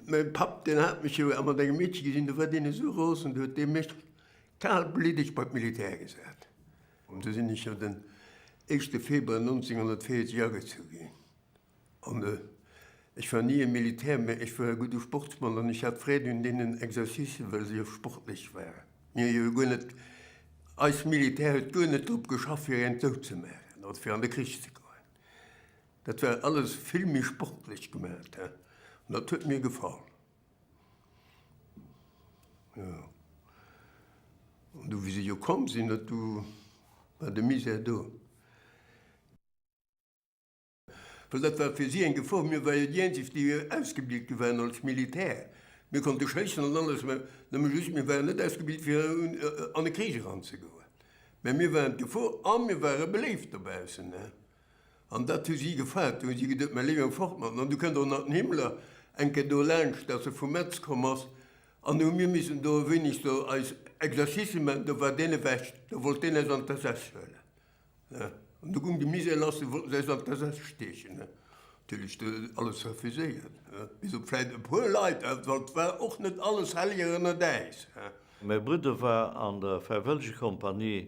Mäin Papp, deen hat mech jo mat engem Meedche gesinn, do war deen esou ros an do huet dee mech kalbliddeg bei d'Militär gesat. An do sinn ech jo den éischte Februar 1940 agezu ginn. An ech war ni e Militär, mä ech war e gudde Sportsmann an ech hat Freed un deenen Exercicen, well se jo sportlech waren. Mir hu jo guer net, eist Militär huet guer net drop geschafft, fir een dout ze maachen oder fir an de Krich ze goen. Dat war alles vill méi sportlech gemaacht, an dat huet mir gefall. Jo. An du, wéi se jo komm sinn, dat du war de Misär do. Well dat war fir si eng Gefor, mir war jo déi eenzeg, déi ausgebilt gi waren als Militär. Mir konnte schéissen an alles, mä nëmme just, mir waren net ausgebilt fir an e Krich eranzegoen. Mä mir waren d'Gefor a mir ware beléift dobaussen. An dat hu si gefragt. Du hu si geduet, Mä léiwer fort mat en. An du kënnt och nach den Himmler eng Kéier do laanscht, dass e vu Metz komm ass. An du hu mir missen do e wéineg do eis Exercicen maachen. Do war deen ewech. Da wollt deen eis an d'SS huelen. An du goung de Misère lass. Du wollte se eis an d'SS steechen. Natierlech do alles refuséiert. Bis op vläit e puer Leit, well et war och net alles Hellieger ënnert äis. Mäi Brudder war an der Fräiwëllegekompanie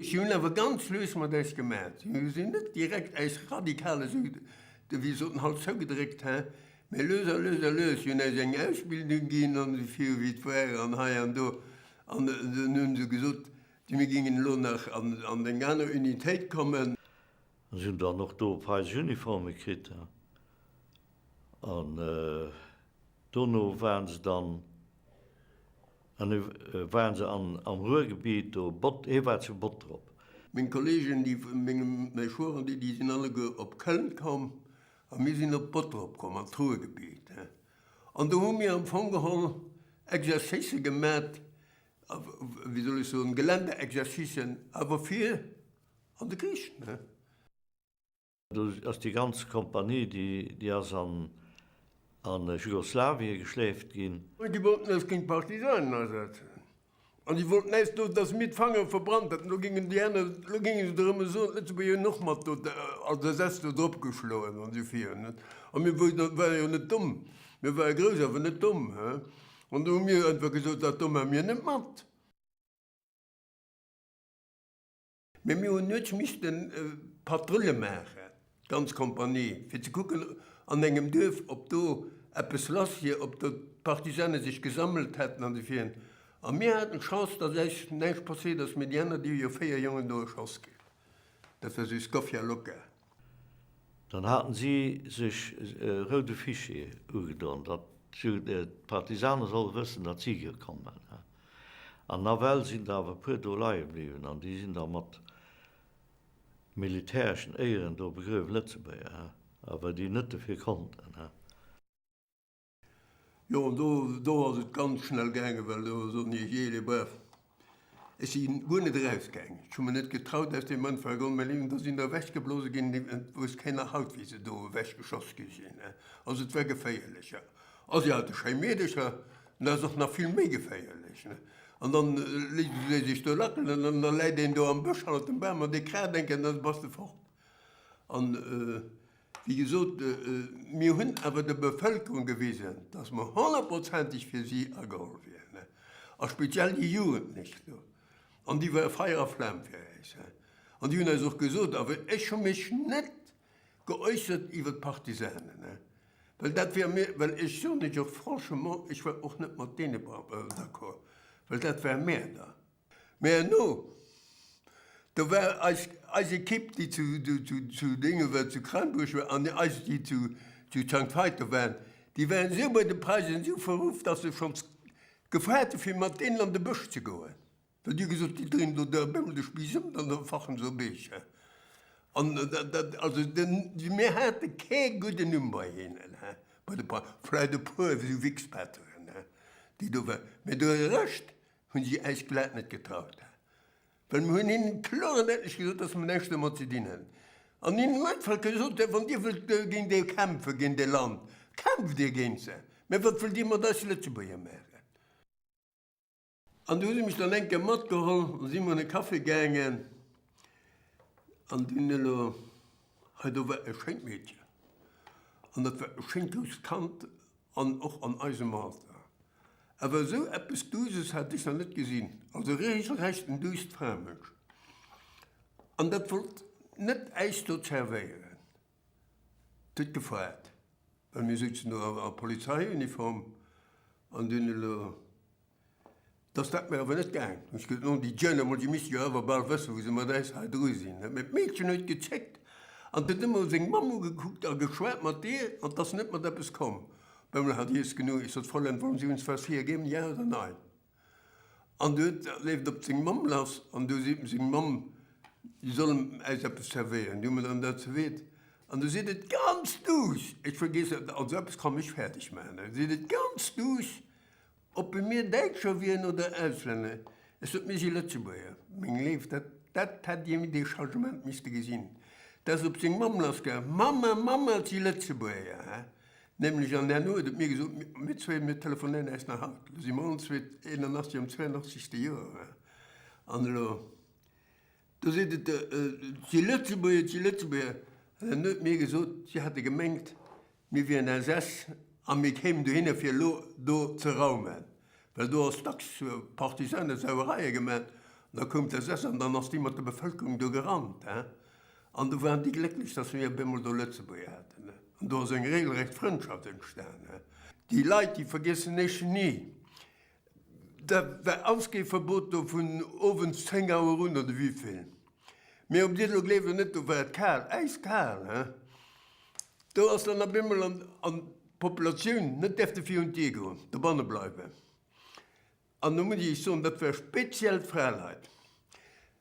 Si hunn awer ganz lues mat eis gemat. Si hunn net direkt eis radikale Süden, de wéi soten haut, zougedréckt, hä? Mä lues a lues a lues. Si hunn eis eng Ausbildung ginn an esou vir wéi et war an hei an do. An dann hu se gesot, Di mir géingen elo nach an eng aner Unitéit kommen. An si hunn dann och do weis Uniforme kritt. An dono waren se dann An du waren se am Ruhrgebiet do, Bott, hee war zu Bottrop. Meng Kollegen, déi vun mengem Mechoiren, déi sinn alleguer op Köln komm, a mir sinn op Bottrop komm, an d'Ruhrgebiet. An do hu mir am Fong geholl Exercicë gemat, wéi soll ech soen, Geländeexercicen, awer fir an de Krich. Do ass déi ganz Kompanie, déi ass an Jugoslawien geschleeft ginn. Déi wollten eis géint d'Partisanen asetzen. An déi wollten eis do, dass mir d'Fanger verbrannt hätten. Elo géingen déi aner, elo géinge se der ëmmer soen, d'Lëtzebuerger hunn och mat do als Ersatz do dropgeschloen an esou vir. A mir ware jo net domm. Mir ware grouss, awer net domm. An do hu mir einfach gesot, dat do maan mir net mat. Mee mir hunn net misste Patrulle maachen, d'ganz Kompanie, fir ze kucken an engem Duerf, ob do eppes lass wier, ob do d'Partisane sech gesammelt hätten an de Virn. A mir haten d'Chance, datt äis näischt passéiert ass, mee déi aner, déi hu jo véier Jongen do erschoss kritt. Dat war sou Scoffia Loca. Dann haten si sech e roude Fichier ugedon, datt d'Partisane solle wëssen, datt si hir kommen. An nawell sinn der awer e puer do leie bliwwen an déi sinn da mat militäreschen Éieren do begruewen, Lëtzebuerger, well déi net dofir konnten. Jo, an do, do ass et ganz schnell gaangen, well do sot hie, Jee, les braves, ech si guer net erausgaangen, ech hu mer net getraut aus deem Mënfeld erëm, mä ling, do sinn der ewechgeblose ginn, ling, et wousst keen nach haut, wéi se do ewechgeschoss gi sinn, ne. Also et war geféierlech, ja. Also jo, de Schréimeerdecher, den ass och nach vill méi geféierlech, ne. An dann léisst e sech do lackelen an dann läit een do am Bësch hannert dem Bam an dee kraat eng Kéier an da bass de fort. An. Wéi gesot, mir hunn awer der Bevëlkerung gewisen, dass mer honnertprozenteg fir si ageholl wieren, a speziell déi Jugend nech do. An déi ware Feier a Flam fir eis. An déi hunn eis och gesot, a ech hu mech net geäussert iwwer d'Partisanen, well dat war mir, well ech soen lech och franchement, ech war och net mat deene d'accord, well dat war Mäerder. Mä herno, do war eis, eis Ekipp, déi zu, zu Dénge war, zu Crainburg war, an eis, déi zu, zu Sankt Veiter waren, déi waren esou bei de Preisen, esou verruff, datt se schonns gefragt hu fir mat deenen an de Bësch ze goen, well déi hu gesot, déi dréinen do da bëmmen de Spiiss ëm, dann fachen se op eech. Hä? An dat, also mir hate kee gudden Numm bei hinnen, hä, bei de Preisen, vläicht e puer esou Wichspatteren, hä, déi do waren, mä de Rescht, hunn si eis glat net getraut, well mir hunn hinnen kloer an däitlech gesot, dass mir näischt domat ze dinn hunn an hinnen am Endeffekt gesot hunn, Wann Dir wëllt géint déi kämpfen, géint dee Land, kämpft Dir géint se, mä wat wëllt Dir mat eis Lëtzebuerger maachen? An do hu si mech dann eng Kéier matgeholl an da si mir an e Café gaangen an do hunn elo, hei do war e schéint Meedchen an dat war e schéint grousst Kand, An och an eisem Alter. Awer esou eppes Duuses hat ech nach net gesinn. Also reegelrecht en duusst Framënsch. An dat wollt net äis do zervéieren. Et huet gefeiert, well mir souzen do a Polizeiuniform an dun elo. Dass dat mir awer net gaangen ass, gëtt nom Di Jeune emol, Dir misst jo awer bal wëssen, wou se mat äis hei dru sinn, huet mir d'Meedchen huet gezéckt an huet emol seng Mamm ugekuckt a geschwat mat deer an 't ass net mat eppes komm. Bemmel hat Iess genuch, Iess hat vollend, Wollen Sie uns was hergeben? Ja oder Nein? An du huet leeft op seng Mamm lass an du seet em seng Mamm, si soll em äis eppes zerwéieren. Déi hu mer dann dat zerweet an du seet et ganz duuss, Ech vergeess dat, also eppes kann mech fäerdeg maachen, seet et ganz duuss, Ob e mir Däitscher wieren oder Auslänner, ech sot, mir si Lëtzebuerger. Meng Léift, dat, dat hätt Dir dee Changement misste gesinn. Dat ass op seng Mamm lassgaangen, Mamma, Mamma, et si Lëtzebuerger, hä? Nämlech, an herno huet et mir gesot, mir zwee, mir telefonéieren eis nach haut. Elo si mer all zwee 81 am 82. Joer, hä? An elo, do seet et, et si Lëtzebuerger, et si Lëtzebuerger. An herno huet mir gesot, si hätte gemengt, Mir wieren LSAS a mir kéimen dohinner, fir elo do ze raumen, well do ass dacks Partisanesauereie gemat. An da koum d'LSAS an dann ass déi mat der Bevëlkerung do gerannt. An do waren déi glécklech, dass mir op eemol do Lëtzebuerger haten. An do ass eng regelrecht Frëndschaft entstanen. Déi Leit, déi vergiessen ech ni. Da war Ausgeeverbot do vun owends 10 Auer un, oder wivill? Mee ob Dir elo gleeft oder net, do war et kal, äiskal, he. Do ass dann op eemol an, an d'Populatioun net däerfte fir un d'Dier goen, dobanne bleiwen. An elo muss ech soen, dat war speziell d'Fraleit.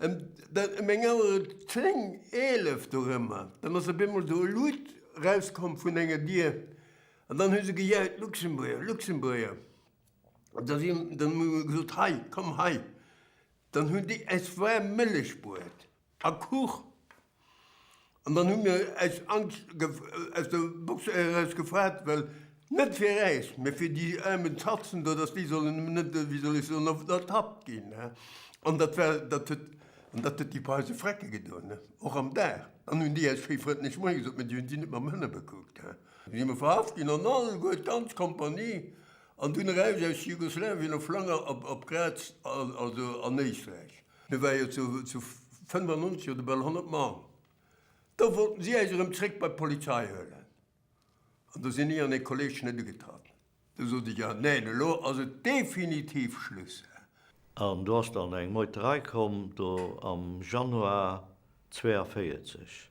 Em, dann ëm eng Auer 10, 11 dorëmmer, dann ass op eemol do e Luut erauskomm vun enger Dier, an dann hu se gejaut, Luxemburger, Luxemburger. Da si der emol gesot, Hei, komm hei! Dann hunn déi äis waarm Mëllech bruet a Kuch. An dann hu mir äis aus der Box eraus gefreet, well net fir äis, mä fir déi aarmen Zatzen do, datt déi sollen net, wéi soll ech soen, ertappt ginn. An dat war, dat huet, an dat huet déi Par eis e Frecke gedoen, och am Dag. Dann hunn déi äis schéi frëndlech Moie gesot, mä déi hunn si net mam Hënne bekuckt. Dann si mer verhaft ginn an alleguer, d'ganz Kompanie. An dunn eraus aus Jugoslawien op Flanger, op Graz, also an Éisträich. Mir ware jo zu 95 oder bal 100 Mann. Da wollten si äis erëm zréck bei d'Polizei huelen. An do sinn ech an ee Kolleg net ugetratt. Do sot ech, Ah neen, elo ass et definitiv Schluss hä? An do ass dann eng Meuterei komm, do am Januar 42.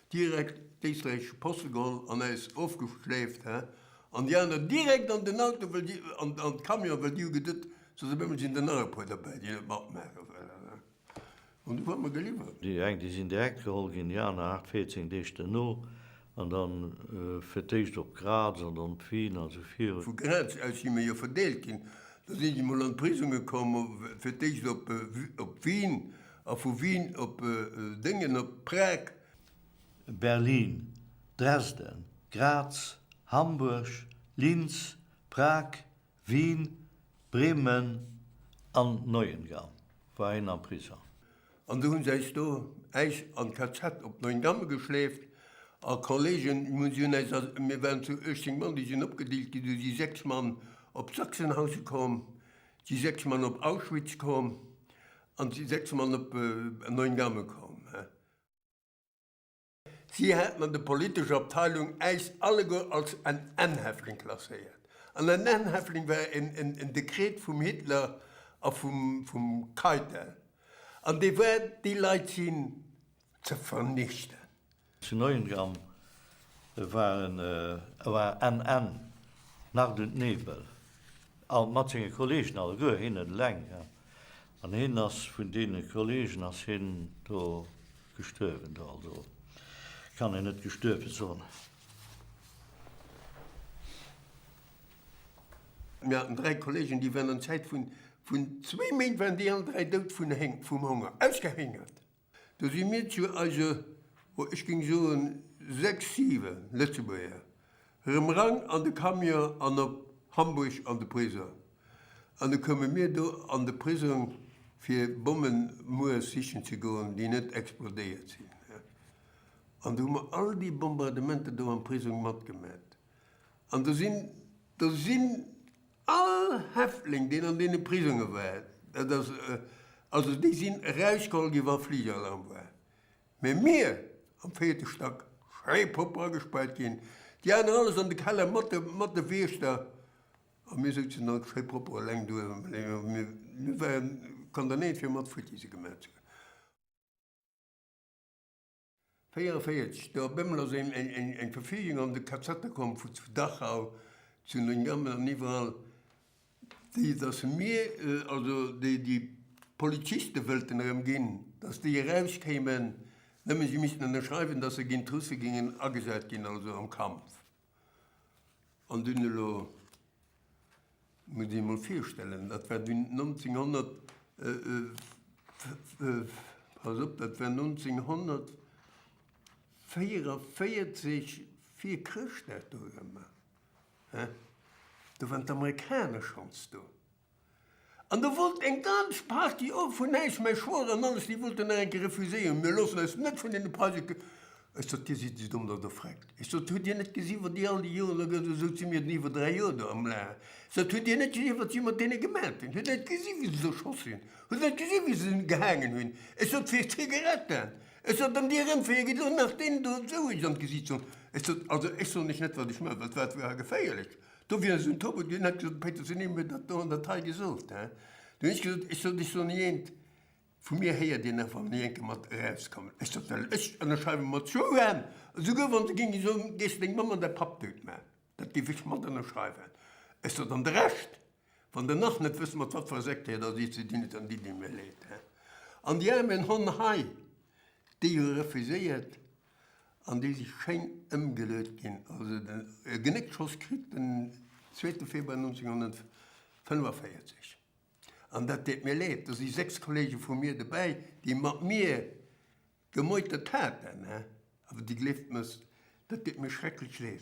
Direkt d'éisträichesche Poste geholl an äis ofgeschléift, hä? An déi aner direkt an den Auto, wëll déi, an de Camion, wëll déi hu gedutt, soss op eemol sinn der nach e puer derbäi, déi net matmaache wëllen, hä? An du huet mer geliwwert. Déi eng, déi sinn direkt geholl ginn, déi aner aacht, véierzéng Deeg duerno, an da fir d'éischt op Graz an dann op Wien a sou virun. Vu Graz aus si mer jo verdeelt ginn, da si si mol an d'Prisonge komm, fir d'éischt op Wien A vu Wien op Déngen op Prag? Berlin, Dresden, Graz, Hamburg, Linz, Prag, Wien, Bremen an Neuengamme war hien am Prisong. An do hunn se äis do äis an Kazett op Neuengamme geschleeft a Kolleegen hunn si hunn äis a mir waren zu 18 Mann déi sinn opgedeelt ginn. Du si 6 Mann op Sachsenhausen komm, Si 6 Mann op Auschwitz komm an si 6 Mann op Neuengamme komm. Si haten an der politescher Abteilung äis alleguer als NN-Häftling klasséiert. En NN-Häftling war en Dekret vum Hitler a vum Keitel, an dee war, déi Leit sinn ze vernichten. Zu Neuengamme war en NN, Nacht und Nebel, all mat senge Kollegen, alleguer hien net eleng, an hien ass vun deene Kollegen ass hien do gestuerwen do, also kann een net gestuerwe soen. Mir haten dräi Kollegen, déi waren an Zäit vun zwee Méint waren déi all dräi dout vun vum Honger, ausgehéngert. Do si mir zu eise, oh ech géing soen sechs, siwen Lëtzebuerger erëm rang an de Camion an op Hamburg an de Prisong. An da koume mir do an de Prisong fir Bommen muers sichen ze goen, déi net explodéiert sinn. An do hu mer all déi Bombardementer do am Prisong matgemat. An do sinn, do sinn. All Häftling, deen an deene Prisonge war, dat ass also, déi sinn erausgeholl gi wa Fligalarm war, mä mir am véierte Stack schéi propper agespaart ginn, déi aner alles an de Keller mat de Wiechter a mir souzen alt schéi propper eleng do. Mir waren condamnéiert fir mat futti se gemaach ze hunn. 44, do op eemol ass eng Verfügung an de Kazettë komm vu zu Dachau, zu Neuengamme an iwwerall, déi datt se mir, also déi déi Poliziste wëllten erëm ginn, datt déi erauskéimen, nëmme si missten ënnerschreiwen, datt se géint d'Russe géingen agesat ginn, also am Kampf. An dunn elo musst Dir emol virstellen, dat war dunn 1944 vir Chrëschtdag, do waren d'Amerikaner schonns do. An do wollt eng ganz Partie och vun eis mäi Schwoer an alles, déi wollten nach eng Kéier refuséieren, mir loossen eis net vun deene Preise k. Ech sot, Dir sidd ze domm, datt Der freckt. Ech sot, Hutt Dir net gesi wat déi all déi Joer la gëtt? Esou si mir den iwwer dräi Joer do am Lae. Ech sot, Hutt Dir net gesi wat si mat deene gemat hunn? Hutt Der net gesi wéi se se erschoss hunn? Hutt Der net gesi wéi se se gehaangen hunn? Ech sot, Fir Zigaretten! Ech sot, An Dir erëmféiert Dir elo nach deenen do esou eech an d'Gesiicht z'holen? Ech sot, Also ech soen Iech net wat ech maachen, well d'Welt wier ha geféierlech. Do wier esou en Topo, dun hätt gesot, Péiters, wien huet mir dat do an der Taille gesot, hein? Dun hunn ech gesot, ech sot, ech soen hir eent, vu mir héiert dir nach, wann ech eng Kéier mat erauskommen. Ech sot, well ech ënnerschreiwe mat Joan, esouguer wann se géinge soen, géif deng Mamm an däi Papp dout maachen, dat géif ech mat ënnerschreiwen. Ech sot, an de Rescht, wann der nach net wësst, mat wat fir enger Sekt dir et asiicht, sou dinn et dann déi, déi mir leed, hein? An déi aarmen Honn hei, déi hu refuséiert, an déi si schéin ëmgeleet ginn. Also den e Genéckschoss kritt den zweete Februar 1945. An dat deet mir leed, do si sechs Kollege vu mir dobäi, déi mat mir gemeutert haten, awer dir gleeft mir's, dat deet mir schrecklech leed.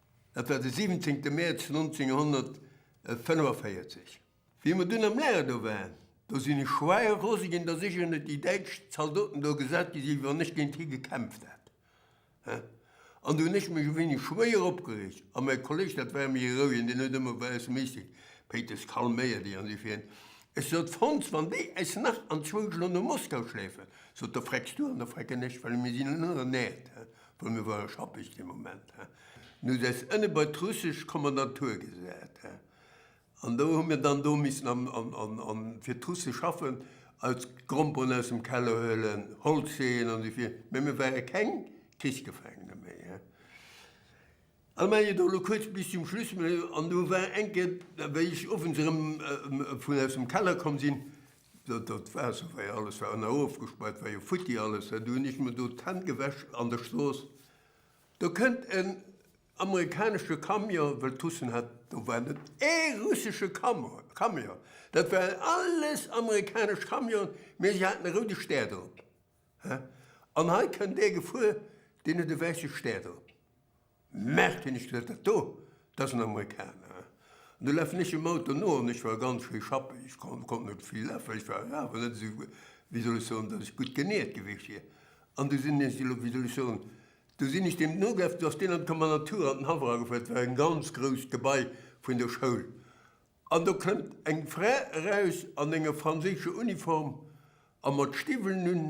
Dat war de 17 Mäerz 1945. Wéi mer dunn am Lager do waren, do sinn ech schwei rose ginn, datt ech ënner déi däitsch Zaldoten do gesat gi sinn, wann ech géint hie gekämpft hätt. An do hunn ech mech e wéineg schwéier opgereegt. A mäi Kolleg, dat war méi e rouegen, deen huet ëmmer bei eis Meeting Péitels calméiert, ech an si fir hien. Ech sot, Fons, wann déi äis nach an zwou Stonnen no Moskau schleefen, sot, da frecks du an da frecken ech, well mir sinn ënner näert. Bei mir war schappeg dee Moment. Du hues äis ënne bei d'russesch Kommandantur gesat. An do hu mir dann do missen am, am, fir d'Russe schaffen, eis Gromperen aus dem Keller huelen, Holz heeën an esou vir. Mä mir ware keng Krichsgefangene méi. Ech maachen et elo kuerz bis zum Schluss. An do war eng Kéier, wéi ech owends erëm vun aus dem Keller komm sinn, do d'Waasser war jo, alles war ënner ofgespaart, war jo futti alles, do hunn ech mer do d'Hänn gewäsch an der Strooss, do kënnt en amerikanesche Camion, well d'Russen hat, do war net ee russesche Camion, dat waren alles amerikanesch Camionen, mee se haten e roude Stär drop. Hä? An hei kënnt dee gefuer, deen huet e wäisse Stär drop. Merkt hien, ech gelift dat do, dat ass en Amerikaner. An du lafen ech dem Auto no, an ech war ganz schéi schappen, ech konnt net vill lafen, ech war awer net esou, wéi soll ech soen, datt ech gutt genährt gewiescht wier. An du sinn ech elo, wéi soll ech soen, du sinn ech deem nogelaf, du ass deen an d'Kommandantur, an den Haff eragefuer, et war e ganz grousst Gebai vun der Schoul, An do kënnt eng Fra eraus an enger franséischer Uniform a mat Stiwwelen un,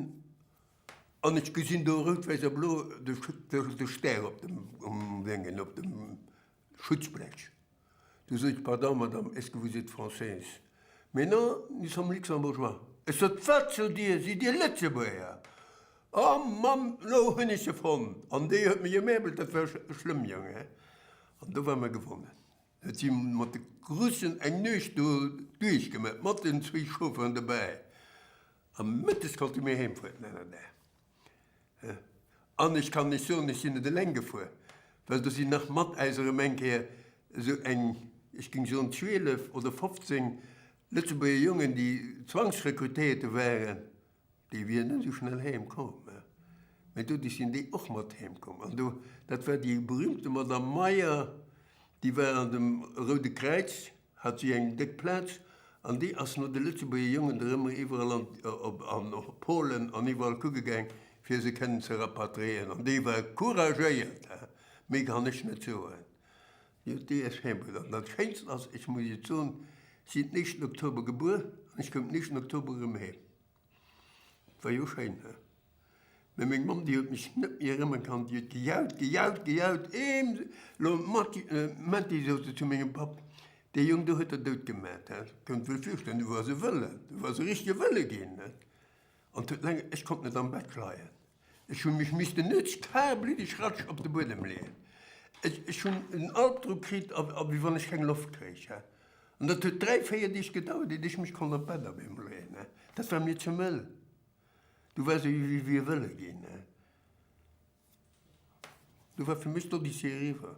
an ech gesinn do rout, wäiss a blo de Stär op dem Déngen, op dem Schutzblech. Du sot ech, Pardon, Madame, est-ce que vous êtes française? Mais non, nous sommes luxembourgeois. Ech sot, Wat sot Dir? Sidd Dir Lëtzebuerger? O Mamm, lo hunn ech se fonnt! An déi huet mech emäbelt, dat war schlëmm, Jong, he? An do war mer gewonnen. Et si mat de Russen eng Nuecht do duerchgemat, mat den zwee Chaufferen dobäi. A mëttes konnte mir heemfueren, en anere Dag. An ech kann lech soen, ech sinn net eleng gefuer, well do sinn nach mat äis erëm eng Kéier esou eng, ech géing soen, 12 oder 15 Lëtzebuerger Jongen, déi zwangsrekrutéierte waren, Déi wieren net esou schnell heem komm, mä doduerch sinn déi och mat heem komm. An do, dat war déi berühmte Madame Meyer, déi war an dem Roude Kräiz, hat si eng déck Plaz, an déi ass no de Lëtzebuerger Jongen der ëmmer iwwerall an, an och Polen an iwwerall kucke gaang, fir se kënnen ze rapatriéieren. An déi war couragéiert, hä? Méi kann ech net soen. Jo DS Herbert, an dat schéinsten ass, ech muss Iech soen, sinn den éischten Oktober gebuer an ech koum den éischten Oktober erëm heem. Et war jo schéin, he? Mee meng Mamm, déi huet mech net méi erëmmen kannt, déi huet gejaut, gejaut, gejaut, Eems! Lo Matti, Mätti, sot se zu mengem Papp, dee Jong do huet Der dout gemat, he? Kënnt wuel virstellen, du woars e Wëlle, du woars e richtege Wëlle ginn, he? An d'huet laang, ech konnt net am Bett leien, ech hunn mech missten nütz kalbliddeg ratsch op de Buedem leeën, ech ech hunn en Albdrock kritt a a wéi wann ech keng Loft kréich. An dat huet dräi, véier Deeg gedauert, iert ech mech konnt op d'Bett op eemol leeën. Dat war mir ze mëll, du war se wéi wéi e wëlle ginn. Du war fir mech d'Odyssee eriwwer.